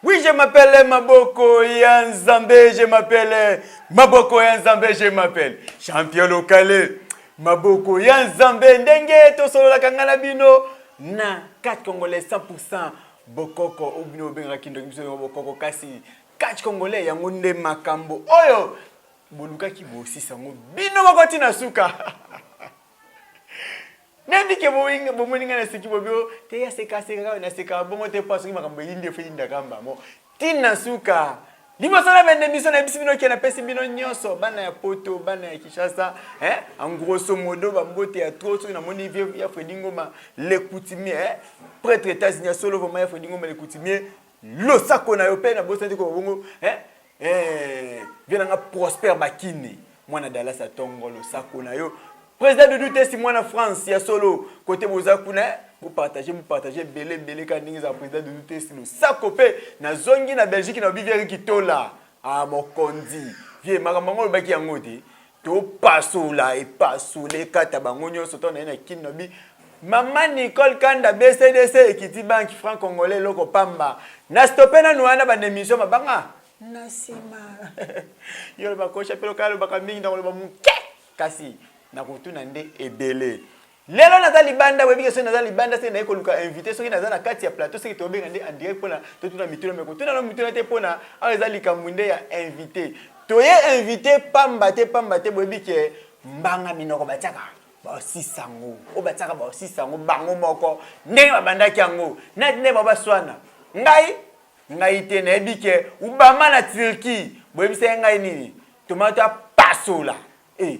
Oui, je m'appelle Maboko ya Nzambe, je m'appelle Maboko ya Nzambe, je m'appelle Champion Lokale. Maboko ya Nzambe ndenge tosololaka ngai na bino na 4 congolais 100% bokoko oyo bino obengaka kindoki biso yango bokoko kasi 4 congolais yango nde makambo oyo bolukaki bosisa yango bino moko ntina suka nayebi ke bomoni ngai naseki bobio te ya sekaseka kaka naseka bongo te mpo soki makambo eyindi efo eyindaka mbamo ntina suka liboso na bende biso nayebisi bino ke napesi bino nyonso bana ya poto bana ya kinshasa eh? engrosso modo bambote ya tro soki namoni vie ya fredi ngoma le coutumier eh? pretre etats-unis ya solo vraimen ya fredi ngoma le coutumier losako na yo mpe nabosani te koloba bongo eh, eh, vie na nga prospère bakini mwana dallas ya tongo losako na yo président de doute si mwana france ya solo kote boza kuna eh, bopartage bopartage ebele ebele ka ndenge ezala président de doute si losako mpe nazongi na belgique na obivieri kitola ah, mokonzi vie makambo yango olobaki yango te topasola epasola ekata bango nyonso to naye na kin lobi mama nicole kanda bcdc ekiti banki franc congolais eloko pamba na stope nanu wana banemission mabanga na nsima yo loba kosha mpe loka alobaka mingi nakoloba moke kasi nakotuna nde ebele Lelo naza libanda webi ke soki naza libanda seke naye koluka invité soki naza na kati ya plateau seke tobenga nde en direct mpona totuna mituna meko tuna no mituna te mpona awa eza likambo nde ya invité toye invité pamba te pamba te boyebi ke mbanga minoko batiaka baosisa yango oyo batiaka baosisa yango bango moko ndenge babandaki yango nati nde babaswana ngai ngai te nayebi ke obama na turquie boyebisa ye ngai nini tomato apasola e eh,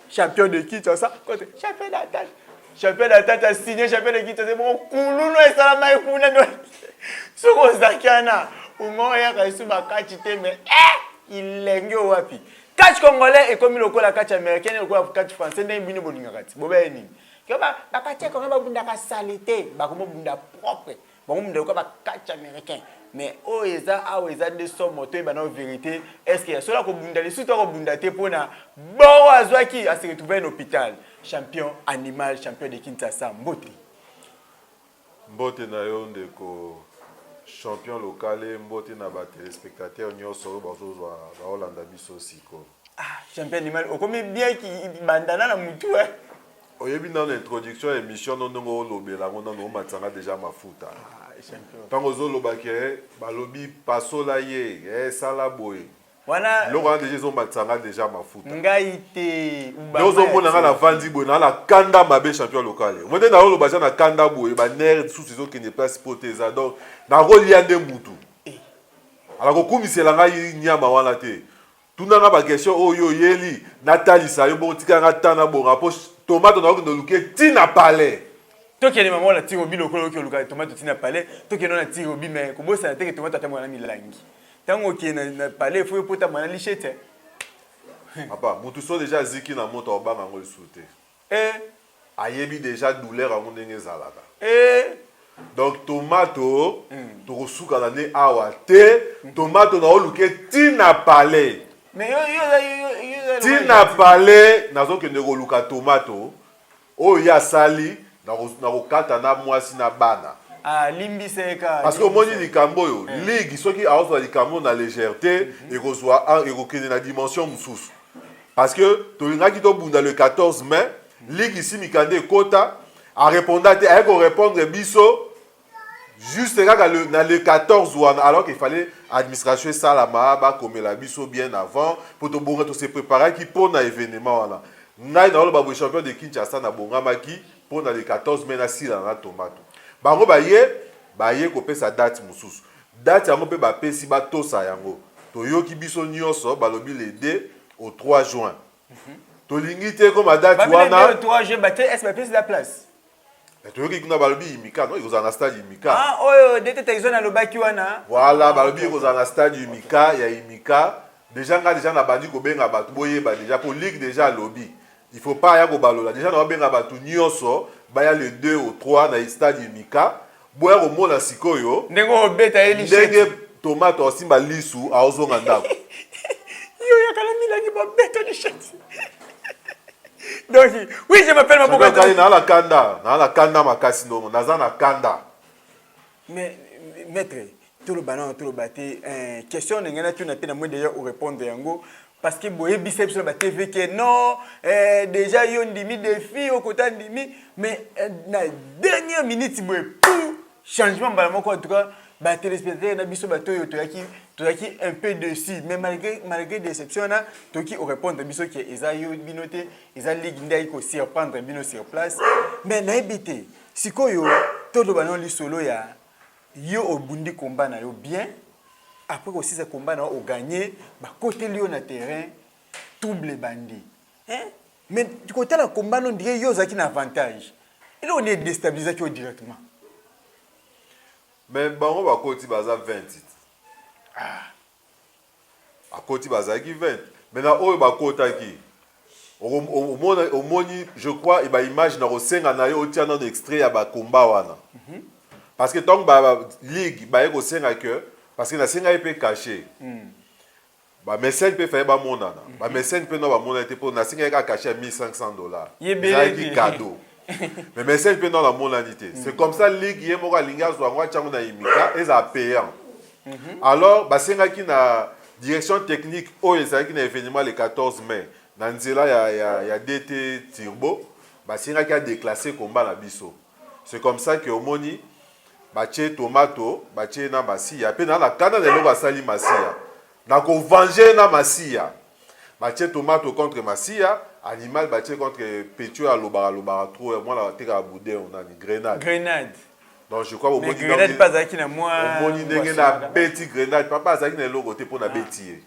Champion de Kinshasa, kote champion d'Attaque. Champion d'Attaque a signé champion de Kinshasa, bon kululu esala mai kuna do. Soko zakiana, umo ya kaisu bakati te mais eh ilenge wapi. Catch congolais ekomi lokola catch américain lokola catch français ndenge bino bolingaka ti. Bobe nini? Keba bakati congolais babundaka salite, bakomo bunda propre. bango munda lokola bakati américain mais oyo eza awa eza nde somo toyeba nao vérité estce soki akobunda lisusu to akobunda te mpona boro azwaki ase retrouve na hôpital champion animal champion de kinshasa mbote mbote na yo ndeko champion lokale mbote na batelespectateur nyonso oyo bazozwa baolanda biso sikoyo ah, champion animal okomi bien bandana na motu eh. Oyebi nanu introduction ya emission no ndenge olobela yango nanu omatisa nga deja mafuta. Ah, champion. Tango ozoloba ke eh, balobi pasola ye, eh, sala boye. Wana eloko wana deja ezomatisa nga deja mafuta. Ngai te. Nde ozomona nga navandi boye na na kanda mabe champion local. Omoni nde naoloba ja na kanda boye ba nerf susu ezokende place po te eza donc nakolia nde mutu. Eh. Ala kokumisela ngai nyama wana te. Tuna nga ba question oyo yo oyeli na talisa yo bongo tika nga temps na bonga po tomato na okende oluke ti na palais. Tokende maman na tiro bi lokola oki oluka tomato ti na palais tokende na tiro bi mais kobosa na teke tomato atambola na milangi. Tango okende na palais faut yo potama na lichete. Papa mutu so dejà aziki na moto obanga ngo lisusu te. Ehh ayebi dejà douleur yango ndenge ezalaka ehh donc tomato toko suka na ne awa te tomato nao luke ti na palais ti na palais nazo kende ko luka tomato oyo ye asali nako kata na muasi na bana parce que omoni likambo oyo ligue soki azo zua likambo na legèrete eko zua eko kende na dimension mususu parce que tolingaki tobunda le 14 mai ligue isi mikanda ekota areponda te aye korépondre biso juste kaka le, na le 14 wana alors qu'il fallait administration esalama bakomela biso bien avant mpo tobonga tose préparaki mpo na événement wana ngai naoloba boye champion de kinshasa nabongamaki mpo na le 14 mai nasilana na tomato bango baye baye kopesa date mosusu Date yango pe ba pesi ba tosa yango toyoki biso nioso balobi le 2 au 3 juin tolingi te ekoma date Babi le 2 wana au 3 juin ba te est ba pesi la place. Eh, toyoki kuna balobi imika no ekozala na stade imika Ah oyo Dete Tyson alobaki wana. voilà balobi ekozala na stade imika ya imika deja nga deja nabandi kobenga bato boyeba deja po ligue deja alobi Il faut pas aya kobalola deja naobenga bato nyonso baya le 2 au 3 na stade Mika boya komona sikoyo ndenge obeta ye lishe ndenge tomate osimba lisu aozonga ndako yo yakala milangi babeta lishe donc oui je m'appelle maboka na la kanda na la kanda makasi ndongo naza na kanda Mais, maître, tout le banana, tout le bâti, euh, question de Ngana, tu n'as pas de d'ailleurs au répondre yango. Parce que boye biceps sur la TV que non, euh, déjà yo ndimi défi au côté ndimi, mais euh, na dernière minute boye pou changement bala moko en tout cas ba téléspectateurs na biso ba toyo toyaki toyaki un peu dessus mais malgré malgré déception na toki au répondre biso que eza yo binote eza ligue ndai ko surprendre bino sur place mais na ebité Sikoyo toloba no lisolo ya yo obundi combat na yo bien après kosisa combat na yo oganye bakoteli yo na terrain trouble ebandi hein? mais kotala combat no ndire yo ozalaki na avantage eloko nde edestabilisaki yo directement mais bango bakoti baza 20 ah. bakoti bazalaki 20 mais na oyo bakotaki omoni je crois ba image na kosenga na yo otia nano extrait ya ba combat wana mm -hmm. parce que ntango ba ligue baye kosenga que parce que nasengaki mpe cachet mm. bamesene mpe faye bamonana mm -hmm. bamesene mpe no bamonana te mpo nasengaki kaka cachet ya 1500 dollars ezalaki cadeau mais mesene mpe no namonani te mm. c'est comme ça ligue ye moko alingi azwa yango atyango na imika ezala payant mm -hmm. alors basengaki na direction technique oyo ezalaki na événement le 14 mai na nzela ya, ya, ya dt turbo basengaki adeclasse komba na biso c'est comme ça que omoni batie tomato batie na masiya mpe na na kanda na eloko asali masiya na kovange na masiya batie tomato contre masiya animal batie contre petio alobaka alobaka trop mwana atekaka boudin onani grenade grenade donc je crois omoni grenade mpe azalaki na mwa omoni ndenge na beti grenade papa azalaki na eloko te mpo na ah. beti ye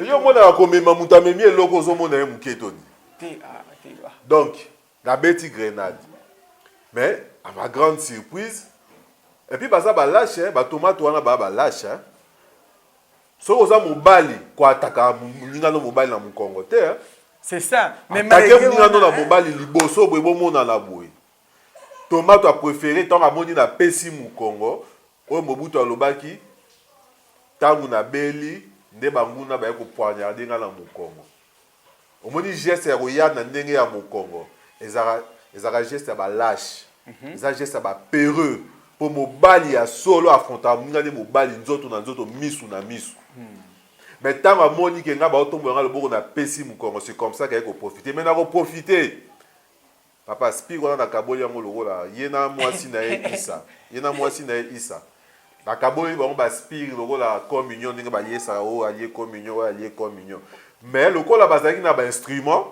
yo omonaka komema moto amemi eloko ozomona ye moke toni ah, ah. donc na beti grenade mais à ma grande surprise et puis baza balache batomate wana baa balache soki oza mobali koataka molingano mobali na mokongo te c'est ça mais atake molingano na mobali liboso boye bomonana boye Tomato a prefere tango amoni na pesi mukongo oyo Mobutu alobaki tango na beli nde banguna baye ko poignarder nga na mukongo. Omoni geste ya koya na ndenge ya mukongo ezalaka ezalaka geste ya ba lache. Eza geste ya ba pereux po mobali ya solo affrontaka muninga ne mobali nzoto na nzoto misu na misu. Mais tango amoni ke nga bao tombola nga loboko na pesi mukongo c'est comme ça ke aye ko profiter mais nako profiter. Papa speak wana nakaboli yango lokola ye na mwasi na ye Isa ye na mwasi na ye Isa nakaboli bango ba speak lokola communion ndenge bayesaka oyo oh, alie communion oyo oh, alie communion mais lokola bazalaki na ba instrument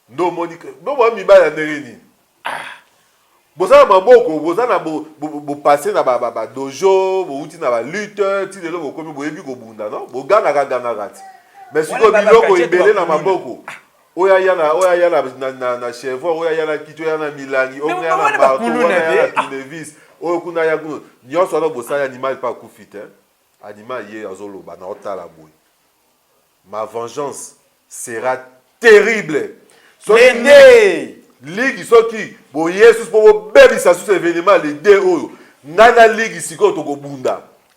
nde omoni bo ba mibali ya ndenge nini ah boza na maboko boza na bopase na badojo bouti na balute ti lelo bokomi boyebi kobunda no bogangaka gangaka ti mais sikoyo biloko ebele na maboko oyo aya na oyo aya na na na, na chevron oyo aya na kiti oyo aya na milangi oyo aya na marteau oyo aya na tournevis oyo kuna aya kuna nyonso wana bosali animal mpe akufi te animal ye azoloba na otala boye ma vengeance sera terrible soki ligi soki boyesus mpo bobebisa susu evenema le de oyo ngai na ligi sikoyo tokobunda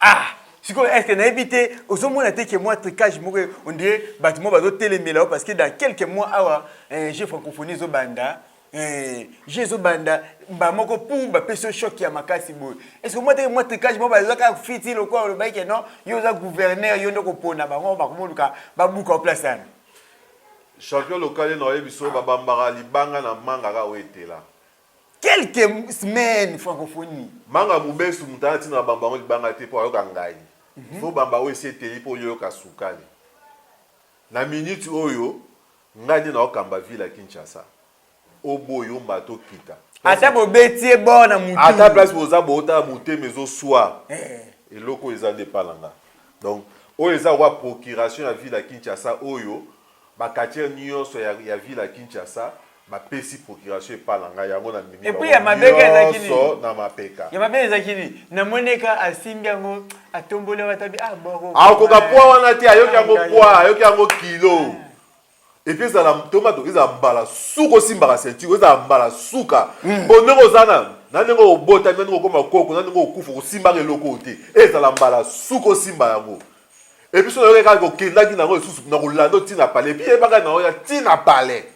ah sikoyo est ce que nayebi te ozomona te ke mwa tricage moko on dirait bato moko bazotelemela yo parce que dans quelques mois awa eh, je francophonie ezobanda eh, je ezobanda mbala moko pu bapesi yo choc ya makasi boye est ce que omona te ke mwa tricage moko bazwaka fiti lokola olobaki ke non yo oza gouverneur yo nde kopona bango bakomoluka babuka yo place wana champion local ena oyebi so babambaka libanga na manga kaka oyo etela quelques semaines francophonie manga mubesu moto aza ntina na bamba yango libanga te mpo ayoka ngai mhm. fo bamba oyo esi eteli mpo oyoka sukali na miniti oyo ngai nde naokamba ville ya kinshasa oboyi omata okita ata bobeti ye bord na motu ata place boza bootala motema ezoswa eh. eloko eza nde epa na nga donc oyo eza koba procuration ya ville ya kinshasa oyo Ba catcheur nioso ya ya ville ya Kinshasa ba pesi procuration epa na ngai yango na mimi bango nioso na mapeka. Ya mabe ezaki nini? Na moni ka asimbi yango atomboli yango atabi ah boko. Akoka poa wana te ayoki yango poa ayoki yango kilo. Ah. epuis ezala ntoma to ezala mbala suka osimbaka ceinture ezala mbala suka hmm. mpo ndenge oza na na ndenge obotami na ndenge okoma koko na ndenge okufa osimbaka eloko te ezala mbala suka osimba yango Et puis, si on a ko kenda ki na ko sous na ko lando ti na palais. Et puis, yeba ka na oya ti na palais.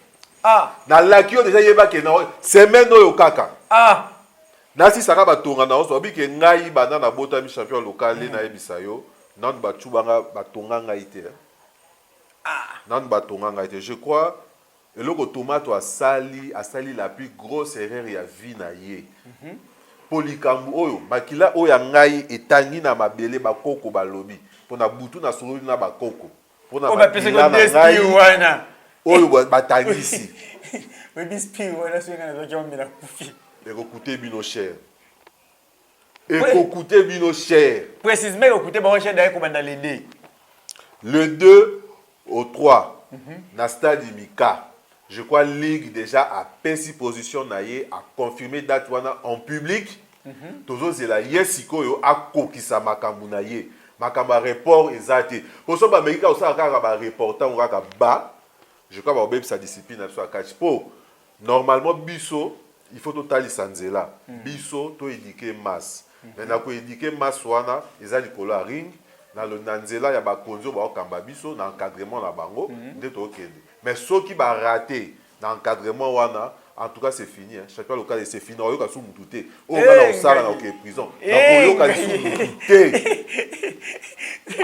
Ah. Na laki yo déjà yeba ke na oya semaine oyo kaka. Ah. Nasi saka ba tonga na oso bike ngai banda na bota mi champion local mm. na yebisa yo. Nan ba chubanga ba tonga ngai te. Ah. Nan ba tonga ngai te. Je crois Eloko tomato asali asali la plus grosse erreur ya vie na ye po likambu oyo makila oyo ya ngai etangi na mabele ba koko balobi pona butu na sololi na ba koko pona oh, makila na ngai oyo batangisi ekokute bino cher ekokute bino cher precisement ekokute bango cher daye kobanda le 2 le 2 au 3 mm -hmm. na stade imika je crois ligue déjà apesi position na ye aconfirme date wana en public mm -hmm. tozozela ye sikoyo akokisa makambo na ye makambo ya report eza te mpo so bameki kaka kosala kaka bareportango kaka ba je crois bakobebisa discipline na biso ya catch mpo normalement biso il faut totalisa nzela mm. biso to éduquer masse mm -hmm. mais na ko éduquer masse wana eza likolo ya ring na, na nzela ya bakonzi oyo baokamba biso na encadrement na bango mm -hmm. nde tokende mais soki barate na encadrement wana en tout cas c'est fini hein. chapeau local c'est fini oyoka su mutu te oyo nga na osala na oke prison na koyoka lisusu mutu te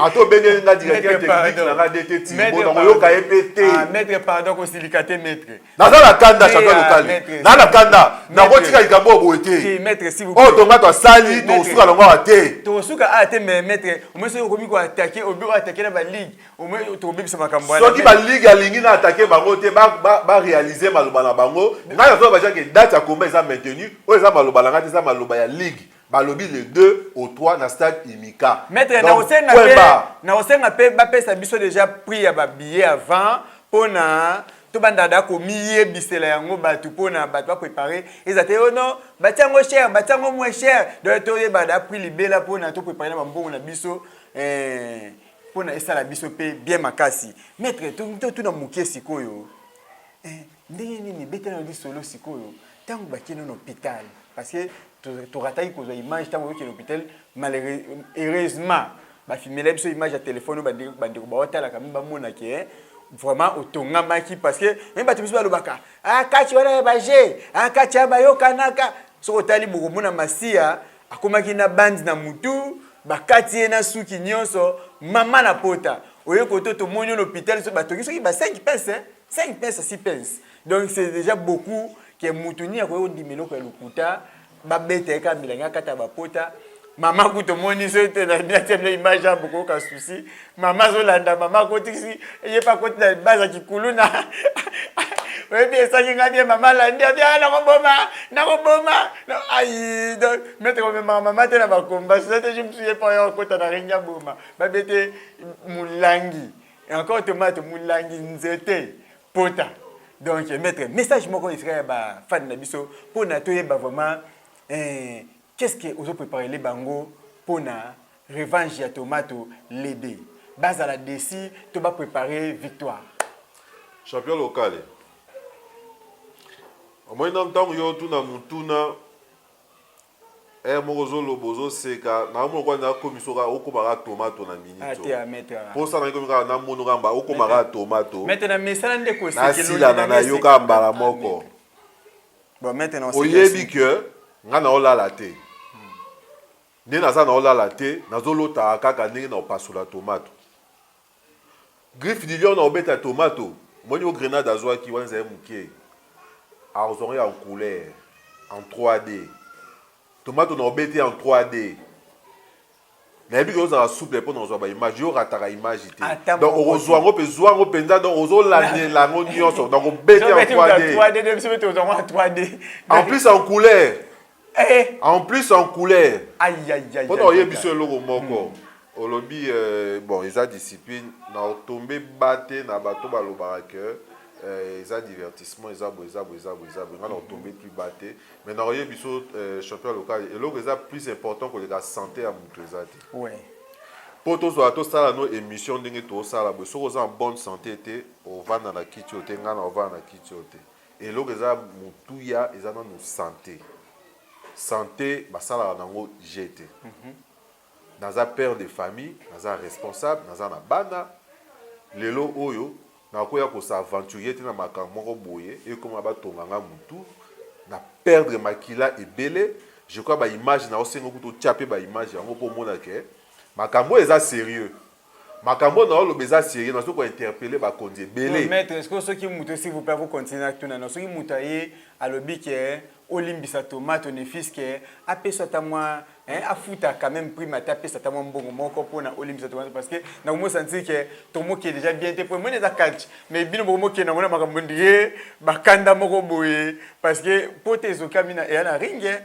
ata obengeli nga dikaki ya technique na nga dete timbo na koyoka ye mpe te ah, maître pardon kosilika te maître naza na kanda chantal lokali naza na kanda nakotika likambo oyo boye te oyo tonga tosali tokosuka longo awa te tokosuka awa te mais maître omoi soki okomi koatake obi oatake na baligue omoi tokobebisa makambo wana soki baligue alingi na atake bango te barealize maloba na bango ngai nazoba bajake date ya komba eza maintenu oyo eza maloba na ngai te eza maloba ya ligue balobi le 2 au 3 na stade Imika. Maître na osenga pe na osenga pe ba pesa biso déjà prix ya ba billets avant pona to banda da ko miye bisela yango batu pona batu ba préparer eza te oh non batiango cher batiango moins cher donc to yeba da prix libela pona to préparer na ba mbongo na biso eh pona esala biso pe bien makasi. Maître to to na mukie sikoyo. Eh Ndenge nini beta na lisolo sikoyo tango batie no hôpital parce que torataki kozwa image ntango oyokeli hôpital heureusement bafimela biso image ya telefone oyo bandeko baotalaka mi bamona ke eh, vraiment otongamaki parce que meme bato biso balobaka ah, kati wana ya baje ah, kati ya bayokanaka soki otali bokomona masiya akomaki na bandi na mutu bakati ye na suki nyonso mama na pota oye koto tomoni yo na hôpital so batongi soki ba 5 pese 5 pesa 6 pence donc c'est déjà beaucoup ke mutu nini akoki kondima eloko ya lokuta babeta ye kaka milangi akata bapota mama kutu omoni so ete natia bino image ya bokoyoka susi mama azolanda mama akotisi ye mpe akoti na baza kikuluna oyebi esangi ngai bie mama alandi abi ah, nakoboma nakoboma ai donc mete komemaka mama te na bakomba sote je mosusu ye mpo yo akota na rengi aboma babete molangi Et encore tomate mulangi nzete pota. Donc maître message moko esika ya ba fan na biso pona toyeba vraiment eh, qu'est-ce que ozo préparer les bango pona revanche ya tomato lebe bazala desi to ba préparer victoire champion locale omoni na ntango yo otuna motuna Heure moko ozo loba ozo seka na omona kwa na komi soka okoma ka tomato na minute ah, te amete ah, ah. posa na komi ka na mono ka mba okoma ka tomato mete na mesana nde ko seke na sila na na yoka mbala moko bon mete na oyebi que nga na olala te nde naza na olala te nazolotaka kaka ndenge na opasola tomato Griffe du lion na obeta tomato omoni oyo grenade azwaki wana ezali moke azwango ya en couleur en 3D tomato na obeti en 3D nayebi ke ozala souple mpo na kozwa baimage yo rataka image te Ata donc moko okozwa yango mpe zwa yango mpenza donc ozolandela yango nyonso donc obeti en 3D en plus en couleur Eh. En plus en couleur. Aïe aïe aïe. Pona oye biso eloko moko. Hmm. Olobi euh, bon eza discipline na otombe bate na bato balobaka que euh, eza divertissement eza bo eza bo eza bo eza bo nga na otombe plus bate mais na oye biso euh, champion local eloko eza plus important koleka santé ya moto eza te. Oui. mpo tozwaka tosala no émission ndenge tosala boye soki oza en bonne santé te ovanda na kiti oyo te ngai na ovanda na kiti oyo te Eloko eza motuya eza nanu sante. Sante basalaka nango jeu te. Naza père de famille, naza responsable, naza na bana. Lelo oyo nakoya ko s'aventurier te na makambo moko boye ekoma batonga nga mutu, na perdre makila ebele. Je crois ba images nazo senga yo kutu otia pe ba images yango po omona que makambo oyo eza serieux. Makambo na oloba eza serieux na soko interpeller ba konzi ebele. Maître, est-ce que soki muto s'il vous plaît vous continuer na tuna na soki muto aye alobi que olimbisa tomate au nefis que apesa ata mwa hein afuta quand même prime ata apesa ata mwa mbongo moko pona olimbisa tomate parce que na komo sentir que tomo ke déjà bien te pona mona eza catch mais bino bokomo ke na ngona makambo ndie bakanda moko boye parce que pote ezokami na eya na ringue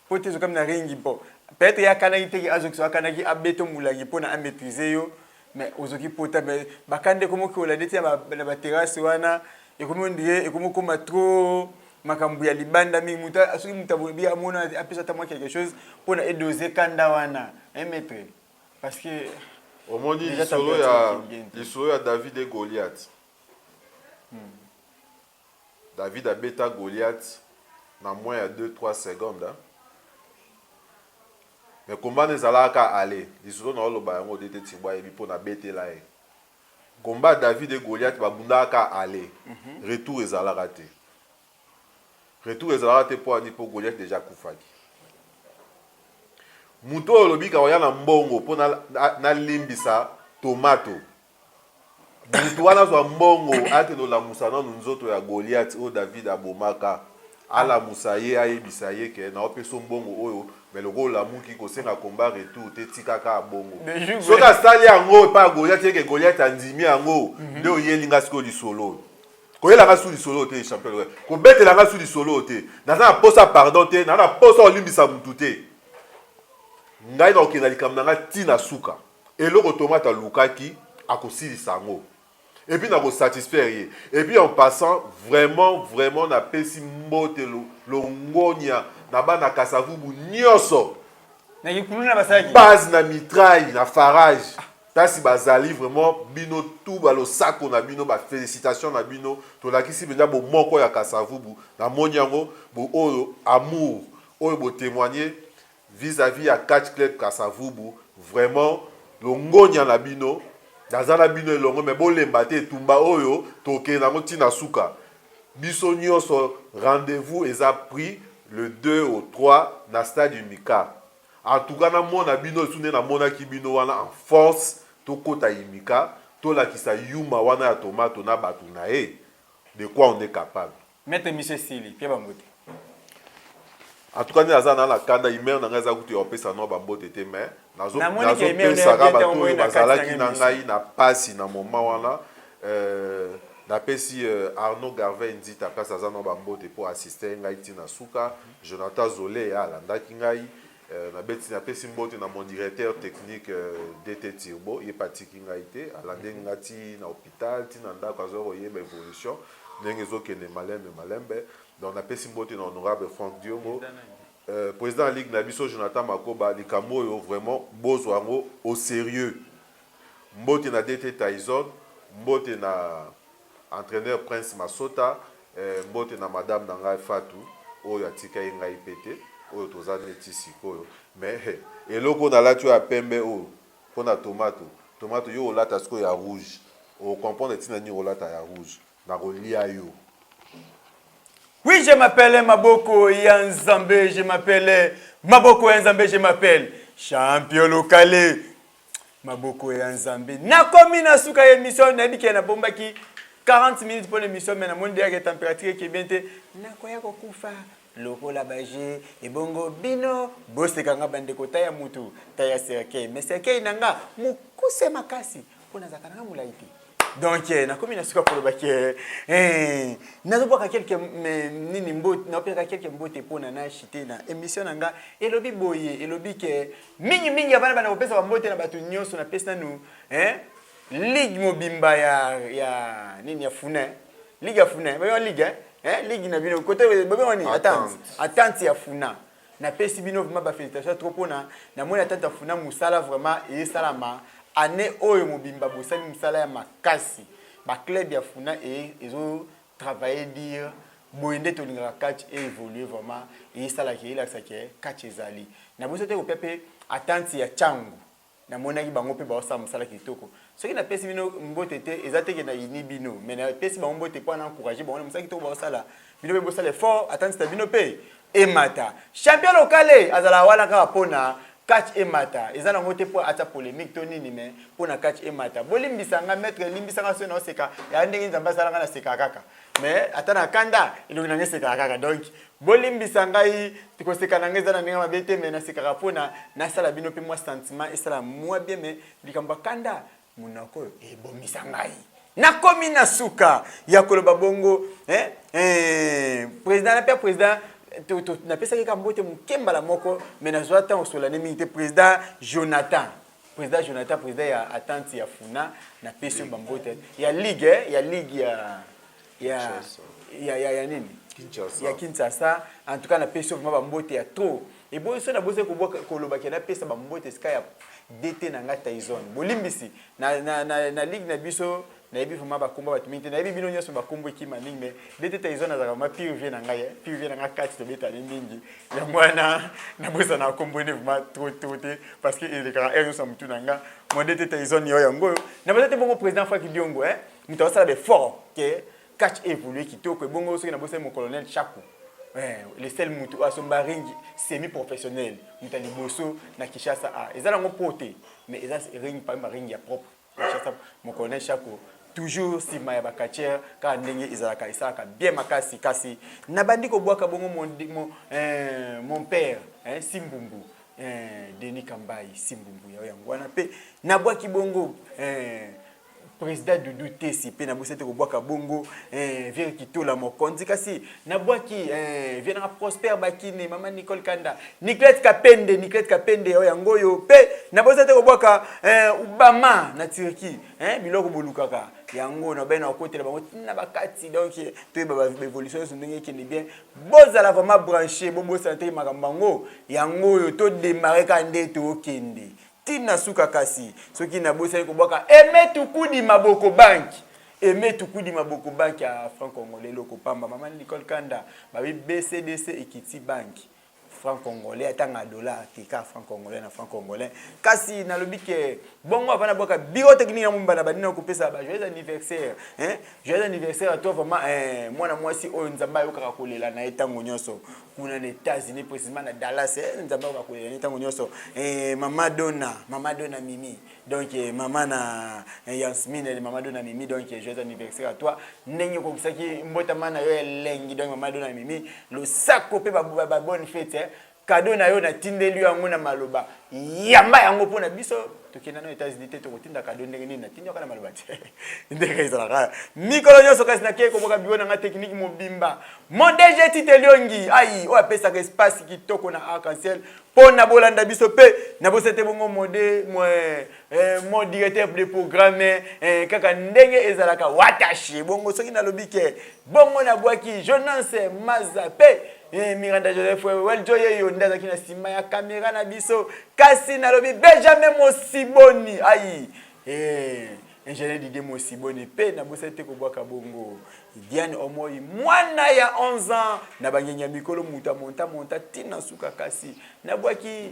po te zokami na ringi mpo peut-être ye akanaki te ke azoki so akanaki abeto mulangi mpo na amaîtrise yo mais ozoki pota mais bakanda ekomi okola ndeti na baterrasse wana ekomi ondire ekomi okoma trop makambo ya libanda mingi moto soki moto aboyebi amona apesa ata mwa quelque chose mpo na edose kanda wana un mètre parce que omoni lisolo ya lisolo ya david e goliath hmm. David abeta Goliath na moins ya deux trois secondes hein. Mais combat wana ezalaka ka aller lisolo na oloba yango DT Tshibo ayebi mpo nabetela ye combat David et Goliath babundaka ka aller mhm. retour ezalaka te retour ezalaka te mpo ani mpo Goliath deja akufaki moto oyo olobika oya na mbongo mpo nalimbisa na tomato Moto wana azwa mbongo, akende kolamusa nanu nzoto ya Goliath oyo David abomaka. Alamusa ye, ayebisa ye ke naopesa yo mbongo oyo, mais lokola olamuki, kosenga combat retour te, tika kaka bongo. Soki asali yango epai ya Goliath et que Goliath andimi yango, nde oyeli nga sikoyo lisolo oyo. Koyela nga lisusu lisolo oyo te champion Lorenzo. Kobetela nga lisusu lisolo oyo te. Naza na posa ya pardon te, naza na posa ya kolimbisa mutu te. Ngai nakokende na likambo na nga ti na suka. eloko tomate alukaki akosilisa yango epuis na kosatisfaire ye epuis en passant vraiment vraiment napesi mbote longonia na bana kasavubu nyonso base na mitraille na farage kasi bazali vraiment bino tu balosako na bino bafélicitation na bino tolakisi mpenza bomoko ya kasavubu namoni yango oyo amour oyo botemoigne Vis à vis ya catch club kasa vubu vraiment longonya na bino naza na bino elongo me bolemba te etumba oyo tokende yango ntina suka biso nyonso rendez-vous eza pris le 2 au 3 na stade imika en tout cas namona bino esu nde namonaki bino wana en force tokota imika tolakisa yuma wana ya tomato na bato na ye de quoi on est capable Maître mission esili pia ba mbote. En tout cas nde naza na na kanda imere na ngai eza kutu ya kopesa no bambote te mais Namoni ke email na yo nazopesaka bien bato tango oyo oyo na kati na bazalaki ngai na mission. ngai na pasi na moment wana euh, napesi euh, arnaud garvey nzita place aza na bambote mpo asiste ngai ntina suka jonathan zole alandaki ngai Euh, nabeti napesi mbote na mon directeur technique euh, dt turbo ye mpe atiki ngai te alande mhm. nga ti na hôpital ti na ndako azwa koyeba évolution ndenge ezokende malembe malembe donc napesi mbote na honorable frank diongo euh, président ya ligue na biso jonathan makoba likambo oyo vraiment bozwa yango au sérieux mbote na dt tyson mbote na Entraineur Prince Masota eh, mbote na madame na ngai Fatou oyo atika ye ngai pe te oyo toza neti sikoyo mais hey, eloko nalati oyo ya pembe oyo mpo na tomato tomato yo olata sikoyo ya rouge okomprendre ntina nini olata ya rouge nakolia yo Oui, je m'appelle Maboko Yanzambe, je m'appelle Maboko Yanzambe, je m'appelle Champion Locale. maboko ya nzambe nakomi na suka ya emission nayebi ke nabombaki 40 minutes mpo na emission me namoni deya ke température eke bien te nakoya kokufa lokola baje ebongo bino boseka nga bandeko ta ya mutu ta ya serkei me serkei na nga mokuse makasi mpo nazalaka na nga molai te donc eh, nakomi na suka koloba ke eh, nazobwaka kelke nini mbote naopesaka kelke mbote mpo na nashi te na émission na nga elobi boye elobi ke mingimingi ya bana bana kopesa bambote na bato nyonso napesi nanu eh, ligue mobimba ya, ya nini ya funin ligue ya funin bayoka ligue eh? eh, ligue na bino kote bobengo nini attente ya funa napesi bino vraiment ba félicitation trop mpona namoni ata tafuna mosala vraiment eyesalama année oyo mobimba bosali mosala ya makasi baclub ya funa e, ezo travailler dire boye nde tolingaka catch e évolue vraiment eyesalaki eyelakisaki catch ezali na boso te kopia mpe atante ya cango Namonaki bango mpe baosala mosala kitoko. Soki napesi bino mbote te, eza te ke nayini bino, mais napesi bango mbote mpo na encourager bango na mosala kitoko baosala. Bino mpe bosala effort, ata nzita bino mpe emata. Champion lokale azalaka wana kaka mpo na catch emata. Eza nango te mpo atia polemique to nini, mais mpo na catch emata. Bolimbisa nga maitre, limbisa nga soki naoseka. Yaya ndenge nini Nzambe asala nga naseka kaka. mais ata na kanda elongi na ngai esekaka kaka donc bolimbisa ngai koseka na ngai eza na ndenge mabe te mais nasekaka mpona nasala bino mpe mwa sentiment esala mwa bien mais likambo ya kanda monoko oyo ebomisa ngai nakomi na suka ya koloba bongo eh, eh, président na mpe président napesaki ka mbote moke mbala moko me nazwa ntango osolani mingi te président jonathan Président Jonathan, président ya attente ya Funa, na pesi ba mbote ya ligue eh, ya ligue ya ya ya ya, ya nini? Kinshasa. Ya Kinshasa. En tout cas na pesi vraiment ba mbote ya trop. Et bon ça na boze ko koloba ke na pesa ba mbote ska ya DT na nga Tyson. Bolimbisi na na na, na ligue na biso nayebi vraiment bakombo bato mingi te nayebi bino nyonso bakombo ekima mingi mais bete taison azalaka vraiment pire vie na ngai eh. pire vie na ngai kati tobetani mingi yango wana nabosana bakombo ene vraiment trop trop te parce que elekaka heure nyonso ya motu na ngai modete taison yo yango oyo na baza te bongo président faki diongo eh. moto azosala befort ke catch évolue kitoko ebongo soki nabosani mocolonel chaku eh, le sel motu oyo asomba ringi semi professionnel moto ya liboso na kinshasa a ah, eza nango po te mais eza ringi parmi baringi ya propre Kinshasa mokolo na eshako toujours nsima ya bacatiere kaka ndenge ezalaka esalaka bien makasi kasi nabandi kobwaka bongo mon, mon, eh, mon père eh, simbumbu eh, denis kambai simbumbu yao yango wana mpe nabwaki bongo eh, président dudu tesi mpe nabosete kobwaka bongo eh, viere kitola mokonzi kasi na bwaki eh, vie nanga prospère bakine mama nicole kanda niclete kapende niclete kapende oyo oh, yango oyo mpe naboza te kobwaka eh, obama na turquie eh, biloko bolukaka yango na bene akotela bango ntina bakati donc toyeba baévolution nyonso ndenge ekende bien bozala vraiment branché bobosana te makambo yango yango oyo todemare kaka nde tokende ti na suka kasi soki nabosani kobwaka eme tukudi maboko banki eme tukudi maboko banki ya franc congolais eloko pamba mama nicole kanda babi bcdc ekiti banki franc congolais atanga dollar te kaka franc congolais na franc congolais kasi nalobi ke bongo avana bwaka biro technique ya mombana banina kopesa ba joyeux anniversaire hein joyeux anniversaire à toi vraiment eh, mwana mwasi oyo nzambe ayokaka kolela na ye ntango nyonso kuna na Etats-Unis précisément na Dallas eh, nzambe ako bakolela ni ntango nyonso eh, mama dona mama dona mimi donc eh, mama na eh, yansmine eh, mama dona mimi donc eh, joyeux anniversaire à toi ndenge okokisaki mbotama na yo elengi donc mama dona mimi losako mpe babonne fete eh, kado na yo natindeli yango na maloba yamba yango mpo na biso tokenda no Etats-Unis te tokotinda kado ndenge nini natindi yoka na maloba te ndenge ezalaka mikolo nyonso kasi nakei koboka biro na ngai tekniki mobimba mon DG Tite Liongi ai oyo apesaka espace kitoko na arc-en-ciel mpo na bolanda biso mpe na bosa te bongo mode eh, eh, mo directeur de programme eh, kaka ndenge ezalaka watashi bongo soki nalobi ke bongo nabwaki jonance maza mpe Eh, Miranda Joseph Weljo ye yo nde azalaki na nsima ya kamera na biso kasi nalobi Benjamin Mosiboni ayi eh, ingénieur Didier Mosiboni mpe nabosani te kobwaka bongo Diane Omoi mwana ya 11 ans na bangengi ya mikolo moto amonta monta ntina nsuka kasi nabwaki